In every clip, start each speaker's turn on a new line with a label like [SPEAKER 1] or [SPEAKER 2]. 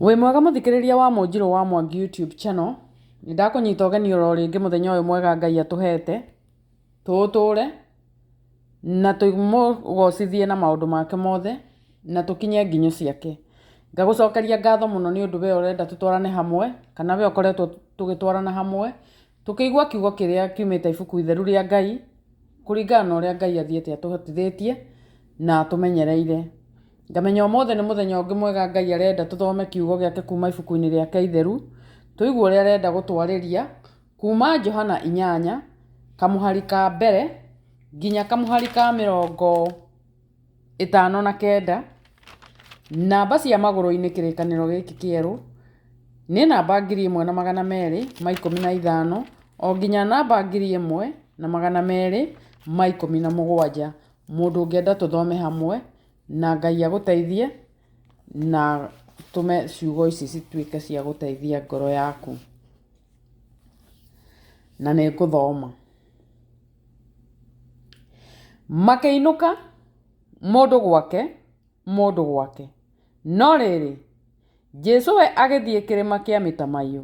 [SPEAKER 1] Wĩ mwega mũthikĩrĩria wa Mũnjirũ wa Mwangi YouTube channel, nĩ ndakũnyita ũgeni oro rĩngĩ mũthenya ũyũ mwega Ngai atũhete, tũũtũre na tũmũgocithie na maũndũ make mothe na tũkinye nginyo ciake. Ngagũcokeria ngatho mũno nĩ ũndũ we ũrenda tũtwarane hamwe, kana we ũkoretwo tũgĩtwarana hamwe, tũkĩigua kiugo kĩrĩa kiumĩte ibuku itheru rĩa Ngai, kũringana na ũrĩa Ngai athiĩte atũhotithĩtie na atũmenyereire. Ngamenya ũmũthĩ nĩ mũthenya ũngĩ mwega Ngai arenda tũthome kiugo gĩake kuma ibuku-inĩ rĩake itheru, tũigue ũrĩa arenda gũtwarĩria kuma Johana inyanya, kamũhari ka mbere nginya kamũhari ka mĩrongo ĩtano na kenda. Namba cia magũrũ-inĩ kĩrĩkanĩro gĩkĩ kĩerũ nĩ namba ngiri ĩmwe na magana merĩ ma ikũmi na ithano o nginya namba ngiri ĩmwe na magana merĩ ma ikũmi na mũgwanja. Mũndũ ũngĩenda tũthome hamwe... Na Ngai agũteithie na tũme ciugo ici cituĩke cia gũteithia ngoro yaku. Na nĩ ngũthoma. Makĩinũka mũndũ gwake mũndũ gwake. No rĩrĩ, Jesu we agĩthiĩ kĩrĩma kĩa mĩtamaiyũ.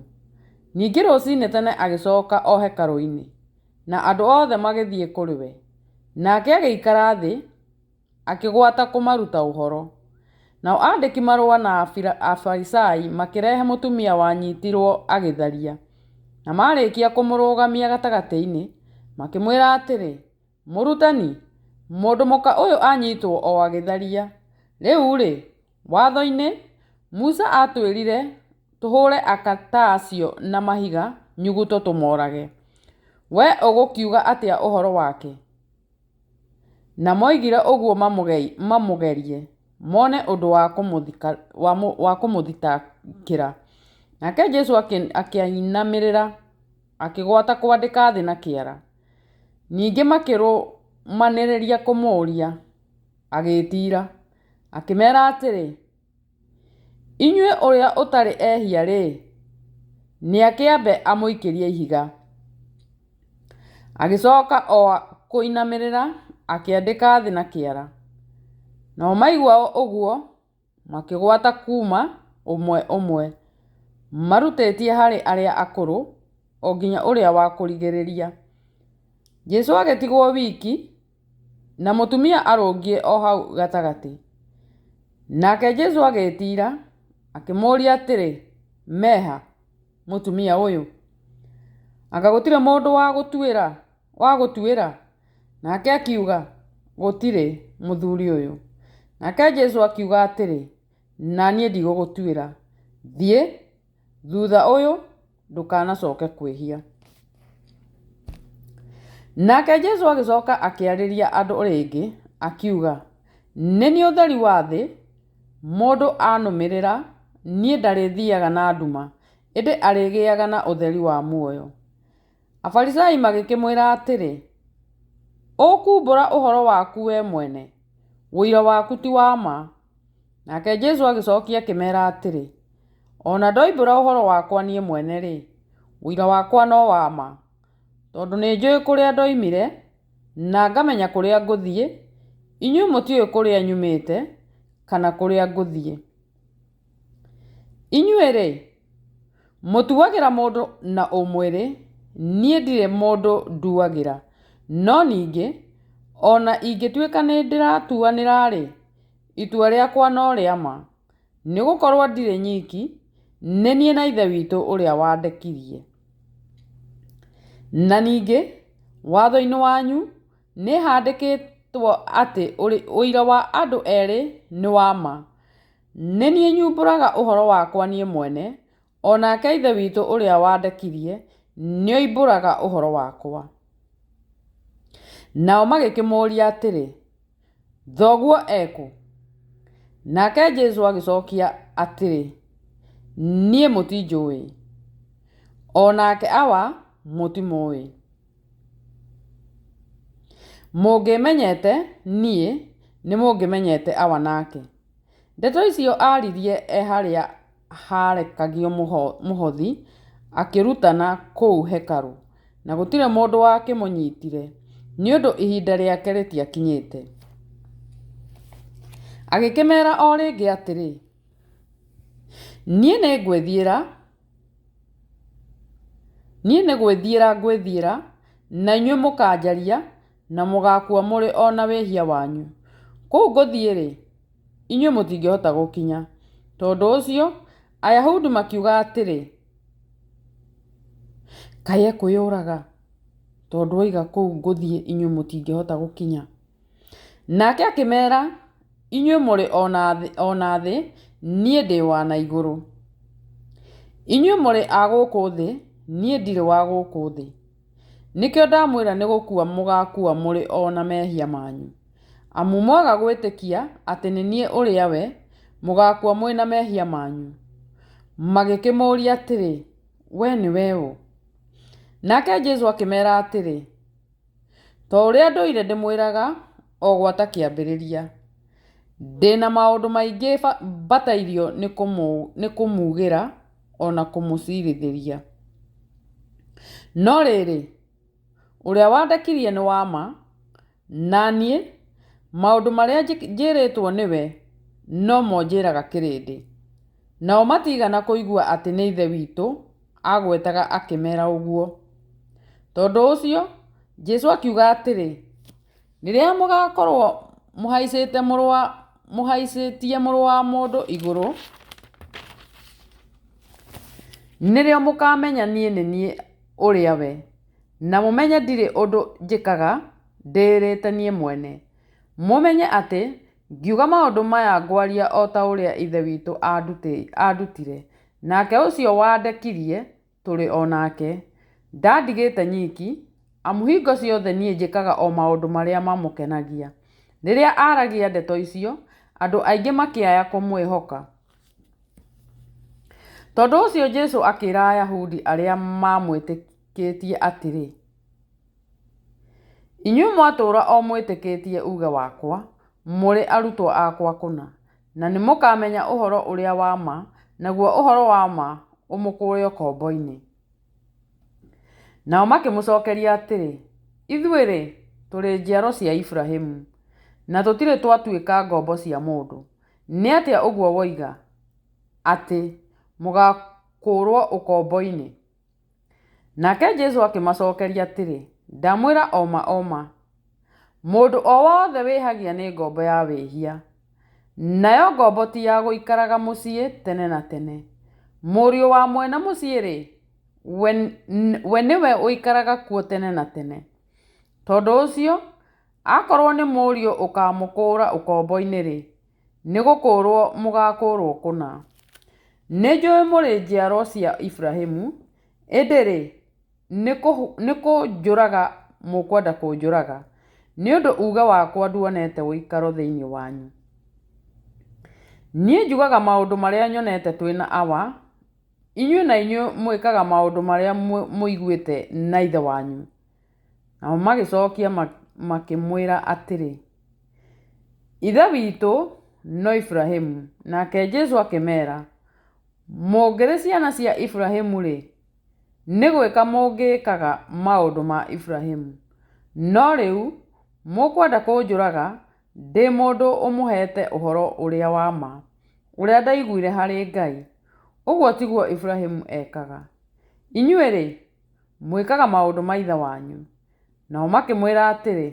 [SPEAKER 1] Ningĩ rũcinĩ tene agĩcoka o hekarũ-inĩ, na andũ othe magĩthiĩ kũrĩ we. Nake agĩikara thĩ akĩgwata kũmaruta ũhoro. Nao andĩki marũa na Afarisai makĩrehe mũtumia wanyitirwo agĩtharia. Na marĩkia kũmũrũgamia gatagatĩ-inĩ, makĩmwĩra atĩrĩ, Mũrutani, mũndũ mũka ũyũ anyitwo o agĩtharia. Rĩu-rĩ, Watho-inĩ, Musa atwĩrire tũhũre aka ta acio na mahiga nyuguto tũmorage. Wee ũgũkiuga atĩa ũhoro wake? Na moigire ũguo mamũgerie, mone ũndũ wa kũmũthitangĩra. Nake Jesu akĩinamĩrĩra, akĩgwata kwandĩka thĩ na kĩara. Ningĩ makĩrũmanĩrĩria kũmũũria, agĩĩtira, akĩmeera atĩrĩ. Inyuĩ ũrĩa ũtarĩ ehia-rĩ, nĩakĩambe amũikĩrie ihiga. Agĩcoka o kũinamĩrĩra akĩandĩka thĩ na kĩara. Nao maigua ũguo makĩgwata kuuma ũmwe ũmwe, marutĩtie harĩ arĩa akũrũ o nginya ũrĩa wa kũrigĩrĩria. Jesũ agĩtigwo wiki. Na mũtumia arũngiĩ o hau gatagatĩ. Nake Jesu agĩĩtiira, akĩmũũria atĩrĩ, Meha, mũtumia ũyũ? Anga gũtirĩ mũndũ wa gũtuĩra, wa gũtuĩra? Nake akiuga, Gũtirĩ, mũthuri ũyũ. Nake Jesu akiuga atĩrĩ, Na niĩ ndigũgũtuĩra. Thiĩ, thutha ũyũ, ndũkanacoke kwĩhia nake jesu agĩcoka akĩarĩria andũ rĩngĩ akiuga nĩ niĩ ũtheri wa thĩ mũndũ anũmĩrĩra niĩ ndarĩthiaga na nduma ĩndĩ arĩgĩaga na ũtheri wa muoyo afarisai magĩkĩmwĩra atĩrĩ ũkumbũra ũhoro waku we mwene ũira waku ti wa ma nake jesu agĩcokia akĩmera atĩrĩ O na ndoimbũra ũhoro wakwa niĩ mwene-rĩ, ũira wakwa no wa ma, tondũ nĩnjũĩ kũrĩa ndoimire, na ngamenya kũrĩa ngũthiĩ, inyuĩ mũtiũĩ kũrĩa nyumĩte, kana kũrĩa ngũthiĩ. Inyuĩ-rĩ, mũtuagĩra mũndũ na ũmwĩrĩ, niĩ ndirĩ mũndũ nduagĩra. No ningĩ, o na ingĩtuĩka nĩndĩratuanĩra-rĩ, itua rĩakwa no rĩa ma. Nĩ gũkorwo ndirĩ nyiki, nĩ niĩ na Ithe witũ ũrĩa wandekirie. Na ningĩ, watho-inĩ wanyu nĩ handĩkĩtwo atĩ ũira wa andũ erĩ nĩ wa ma. Nĩ niĩ nyumbũraga ũhoro wakwa niĩ mwene, O nake Ithe witũ ũrĩa wandekirie nĩoimbũraga ũhoro wakwa. Nao magĩkĩmũũria atĩrĩ, Thoguo ekũ? Nake Jesu agĩcokia atĩrĩ, Niĩ mũtinjũĩ, o nake awa mũtimũĩ. Mũngĩmenyete niĩ, nĩmũngĩmenyete awa nake. Ndeto icio aaririe e harĩa haarekagio mũhothi akĩrutana kũu hekarũ, na gũtirĩ mũndũ wakĩmũnyitire, nĩ ũndũ ihinda rĩake rĩtiakinyĩte. Agĩkĩmeera o rĩngĩ atĩrĩ, Niĩ nĩ ngwĩthiĩra, niĩ nĩ gwĩthiĩra ngwĩthiĩra, na inyuĩ mũkanjaria, na mũgaakua mũrĩ o na wĩhia wanyu. Kũu ngũthiĩ-rĩ... inyuĩ mũtingĩhota gũkinya. Tondũ ũcio Ayahudi makiuga atĩrĩ, Kaĩ ekwĩyũraga? Tondũ oiga kũu ngũthiĩ inyuĩ mũtingĩhota gũkinya. Nake akĩmera, Inyuĩ mũrĩ o na thĩ, niĩ ndĩ wa na igũrũ. Inyuĩ mũrĩ a gũkũ thĩ, niĩ ndirĩ wa gũkũ thĩ. Nĩkĩo ndamwĩra nĩ gũkua mũgaakua mũrĩ o na mehia manyu. Amu mwaga gwĩtĩkia atĩ nĩ niĩ ũrĩa we, mũgaakua mwĩ na mehia manyu. Magĩkĩmũũria atĩrĩ, We nĩwe ũ? Nake Jesu akĩmera atĩrĩ, Ta ũrĩa ndũire ndĩmwĩraga o gwata kĩambĩrĩria, ndĩ na maũndũ maingĩ mbatairio nĩ kũmuugĩra o na kũmũcirithĩria. No rĩrĩ, ũrĩa wandekirie nĩ wa ma, na niĩ maũndũ marĩa njĩrĩtwo nĩwe no mo njĩraga kĩrĩndĩ. Nao matiigana kũigua atĩ nĩ Ithe witũ aagwetaga akĩmera ũguo. Tondũ ũcio, Jesu akiuga atĩrĩ, Rĩrĩa mũgaakorũo mũhaicĩtie Mũrũ wa mũndũ igũrũ, nĩrĩo mũkaamenya niĩ nĩ niĩ ũrĩa we, na mũmenye ndirĩ ũndũ njĩkaga ndĩĩrĩte niĩ mwene. Mũmenye atĩ ngiuga maũndũ maya ngwaria o ta ũrĩa Ithe witũ aandutire, nake ũcio wandekirie nĩ we wandekirie. tũrĩ o nake. Ndandigĩte nyiki, amu hingo ciothe niĩ njĩkaga o maũndũ marĩa mamũkenagia. Rĩrĩa aaragia ndeto icio, andũ aingĩ makĩaya kũmwĩhoka. Tondũ ũcio Jesu akĩra Ayahudi arĩa maamwĩtĩkĩtie atĩrĩ, Inyuĩ mwatũũra o mwĩtĩkĩtie uuge wakwa, mũrĩ arutwo akwa kũna. Na nĩmũkamenya ũhoro ũrĩa wa ma, naguo ũhoro wa ma ũmũkũũre ũkombo-inĩ. Nao makĩmũcokeria atĩrĩ, Ithuĩ-rĩ, tũrĩ njiaro cia Iburahimu, na tũtirĩ twatuĩka ngombo cia mũndũ. Nĩ atĩa ũguo woiga, atĩ, 'Mũgakũũrũo ũkombo-inĩ'? Nake Jesu akĩmacookeria atĩrĩ, Ndamwĩra o ma o ma, mũndũ o wothe wĩhagia nĩ ngombo ya wĩhia, nayo ngombo ti ya gũikaraga mũciĩ tene na tene. Mũriũ wa mwene mũciĩ-rĩ, we, we nĩwe ũikaraga kuo tene na tene. Tondũ ũcio, akorwo nĩ mũriũ ũkamũkũũra ũkombo-inĩ-rĩ, Nĩ gũkũũrũo mũgaakũũrũo kũna. Nĩ njũĩ mũrĩ njiaro cia Iburahimu, ĩndĩ-rĩ, nĩ kũnjũraga mũkwenda kũnjũraga, nĩ ũndũ uuge wakwa nduonete ũikaro thĩinĩ wanyu. Niĩ njugaga maũndũ marĩa nyonete twĩ na Awa, inyuĩ na inyuĩ mwĩkaga maũndũ marĩa mũiguĩte na ithe wanyu. Nao magĩcokia makĩmwĩra atĩrĩ, Ithe witũ no Iburahimu. Nake Jesu akĩmeera, Mũngĩrĩ ciana cia Iburahimu-rĩ, nĩ gwĩka mũngĩkaga maũndũ ma Iburahimu. No rĩu mũkwenda kũnjũraga ndĩ mũndũ ũmũheete ũhoro ũrĩa wa ma, ũrĩa ndaiguire harĩ Ngai. Ũguo tiguo Iburahimu ekaga. Inyuĩ-rĩ, Mwĩkaga maũndũ ma ithe wanyu. Nao makĩmwĩra atĩrĩ,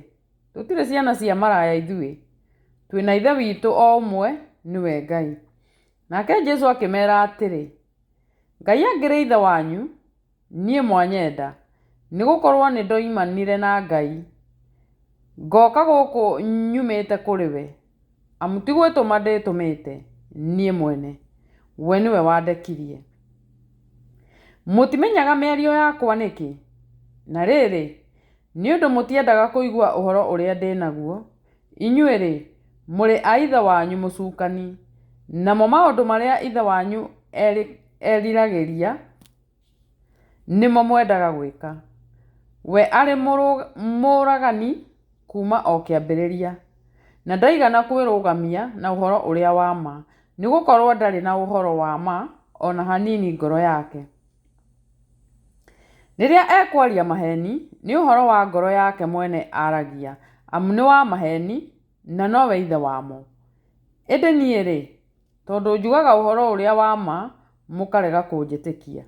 [SPEAKER 1] Tũtirĩ ciana cia maraya ithuĩ, twĩ na Ithe witũ o ũmwe, nĩwe Ngai. Nake Jesu akĩmeera atĩrĩ, Ngai angĩrĩ Ithe wanyu, niĩ mwanyenda, nĩ gũkorũo nĩ ndoimanire na Ngai, ngoka gũkũ nyumĩte kũrĩ we. Amu ti gwĩtũma ndĩĩtũmĩte niĩ mwene, we nĩwe wandekirie. Mũtimenyaga mĩario yakwa nĩkĩ? Na rĩrĩ, nĩ ũndũ mũtiendaga kũigua ũhoro ũrĩa ndĩ naguo, inyuĩ-rĩ, mũrĩ a ithe wanyu Mũcukani, namo maũndũ marĩa ithe wanyu eriragĩria, Nĩmo mwendaga gwĩka. We arĩ mũũragani kuuma o kĩambĩrĩria, na ndaigana kwĩrũgamia na ũhoro ũrĩa wa ma, nĩ gũkorũo ndarĩ na ũhoro wa ma o na hanini ngoro yake. Rĩrĩa ekwaria maheeni, nĩ ũhoro wa ngoro yake mwene aragia, amu nĩ wa maheeni, na nowe ithe wamo. Ĩndĩ niĩ-rĩ, Tondũ njugaga ũhoro ũrĩa wa ma, mũkarega kũnjĩtĩkia.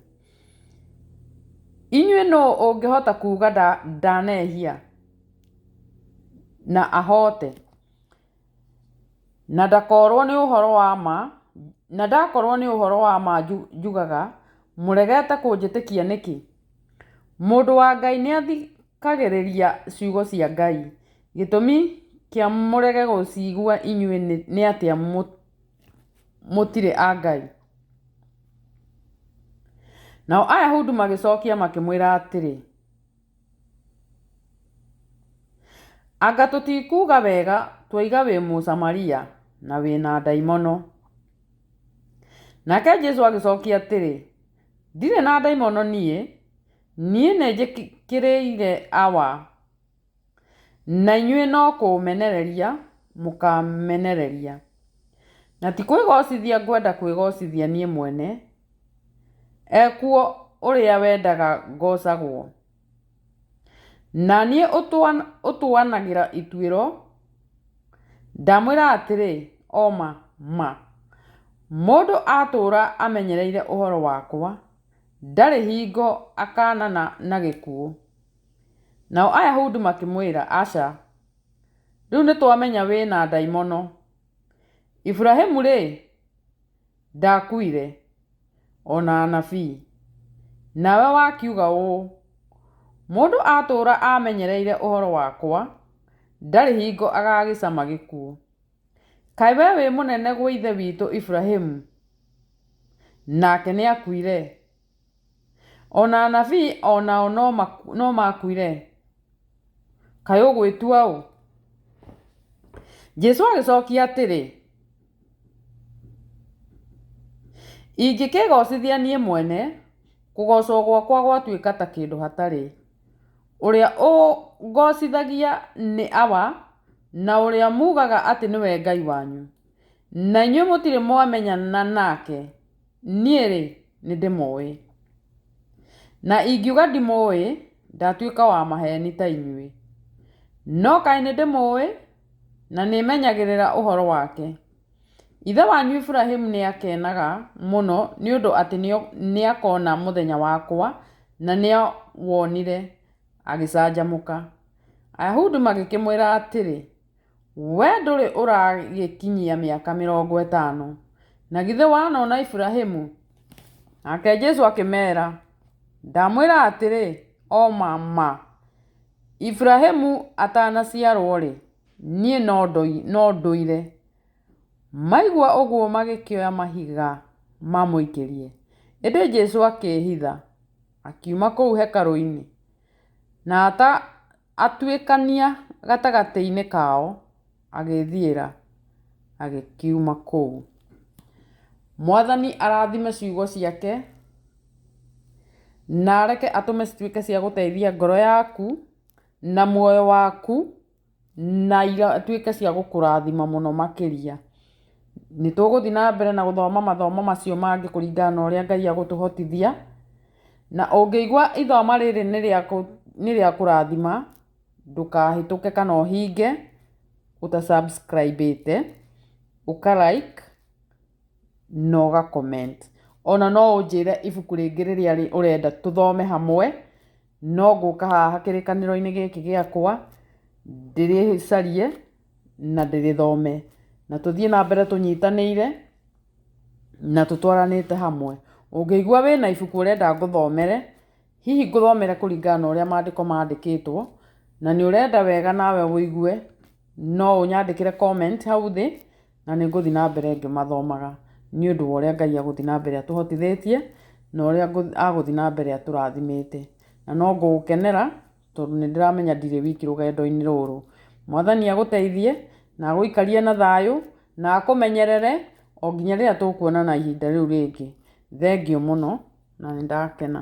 [SPEAKER 1] Inyuĩ nũ ũngĩhota kuuga ndanehia na ahoote? Na ndakorwo nĩ ũhoro wa ma, na ndakorwo nĩ ũhoro wa ma njugaga, mũregete kũnjĩtĩkia nĩkĩ? Mũndũ wa Ngai nĩathi... Mũkagĩrĩria ciugo cia Ngai. Gĩtũmi kĩa mũrege gũciigua inyuĩ nĩ atĩa mũtirĩ a Ngai? Nao Ayahudi magĩcookia makĩmwĩra atĩrĩ, Anga tũtikuuga wega twoiga wĩ Mũsamaria na wĩ na ndaimono? Nake Jesu agĩcookia atĩrĩ, Ndirĩ na ndaimono niĩ. Niĩ nĩnjĩkĩrĩire awa, na inyuĩ no kũũmenereria mũkaamenereria. Na ti kwĩgoocithia ngwenda kwĩgoocithia niĩ mwene, ekuo ũrĩa wendaga ngoocagwo. Na niĩ ũtũanagĩra ituĩro, ndamwĩra atĩrĩ, o ma ma, mũndũ atũũra amenyereire ũhoro wakwa, Ndarĩ hingo akaanana na gĩkuũ. Nao Ayahudi makĩmwĩra, Aca, rĩu nĩtwamenya wĩ na ndaimono. Iburahĩmu-rĩ, ndaakuire, o na anabii. Nawe wakiuga ũũ, 'Mũndũ atũũra amenyereire ũhoro wakwa, ndarĩ hingo agaagĩcama gĩkuũ. Kaĩ we wĩ mũnene gwa ithe witũ Iburahĩmu? Nake nĩakuire. O na anabii o nao no maakuire. Kaĩ ũgwĩtua ũ? Jesu agĩcokia atĩrĩ, Ingĩkĩĩgoocithia niĩ mwene, kũgoocwo gwakwa gwatuĩka ta kĩndũ hatarĩ. Ũrĩa ũngoocithagia nĩ awa, na ũrĩa muugaga atĩ nĩwe Ngai wanyu, na inyuĩ mũtirĩ mwamenyana nake, niĩ-rĩ, nĩndĩmũũĩ. Na ingiuga ndimũũĩ, ndatuĩka wa maheeni ta inyuĩ. No kaĩ nĩndĩmũũĩ, na nĩmenyagĩrĩra ũhoro wake. Ithe wanyu Iburahĩmu nĩakenaga mũno nĩ ũndũ atĩ nĩakona mũthenya wakwa, na nĩawonire, agĩcanjamũka. Ayahudi magĩkĩmwĩra atĩrĩ, We ndũrĩ ũragĩkinyia mĩaka mĩrongo ĩtano, na githĩ wanona Iburahĩmu? Nake Jesu akĩmera, Ndamwĩra atĩrĩ, o ma ma, Iburahĩmu atanaciarwo-rĩ, Niĩ no ndũire. Maigua ũguo magĩkĩoya mahiga mamũikĩrie. Ĩndĩ Jesu akĩĩhitha, akiuma kũu hekarũ-inĩ, na atuĩkania gatagatĩ-inĩ kao, agĩĩthiĩra, agĩkiuma kũu. Mwathani arathime ciugo ciake, na areke atũme cituĩke cia gũteithia ngoro yaku, na muoyo waku. na igatuĩka cia gũkũrathima mũno makĩria. Nĩ tũgũthiĩ na mbere na gũthoma mathomo macio mangĩ kũringana na ũrĩa Ngai agũtũhotithia. Na ũngĩigua ithomo rĩrĩ nĩ rĩa kũrathima, ndũkahĩtũke kana ũhinge ũta subscribe ĩte, ũka like na ũga comment. Ona no ũnjĩre ibuku rĩngĩ rĩrĩa ũrenda tũthome hamwe. No ngũka haha kĩrĩkanĩro-inĩ gĩkĩ gĩakwa, ndĩrĩcarie na ndĩrĩthome, na tũthiĩ na mbere tũnyitanĩire na tũtwaranĩte hamwe. Ũngĩigua wĩna ibuku ũrenda ngũthomere, hihi ngũthomere kũringana na ũrĩa maandĩko mandĩkĩtwo, na nĩ ũrenda wega nawe ũigue, no ũnyandĩkĩre comment hau thĩ, na nĩ ngũthiĩ na mbere ngĩmathomaga nĩ ũndũ wa ũrĩa Ngai agũthiĩ na mbere atũhotithĩtie na ũrĩa agũthiĩ na mbere atũrathimĩte. Na no ngũũkenera tondũ nĩ ndĩramenya ndirĩ wiki rũgendo-inĩ rũrũ. Mwathani agũteithie na agũikarie na thayũ na akũmenyerere o nginya rĩrĩa tũkuonana ihinda rĩu rĩngĩ. Thengiũ mũno na nĩ ndakena.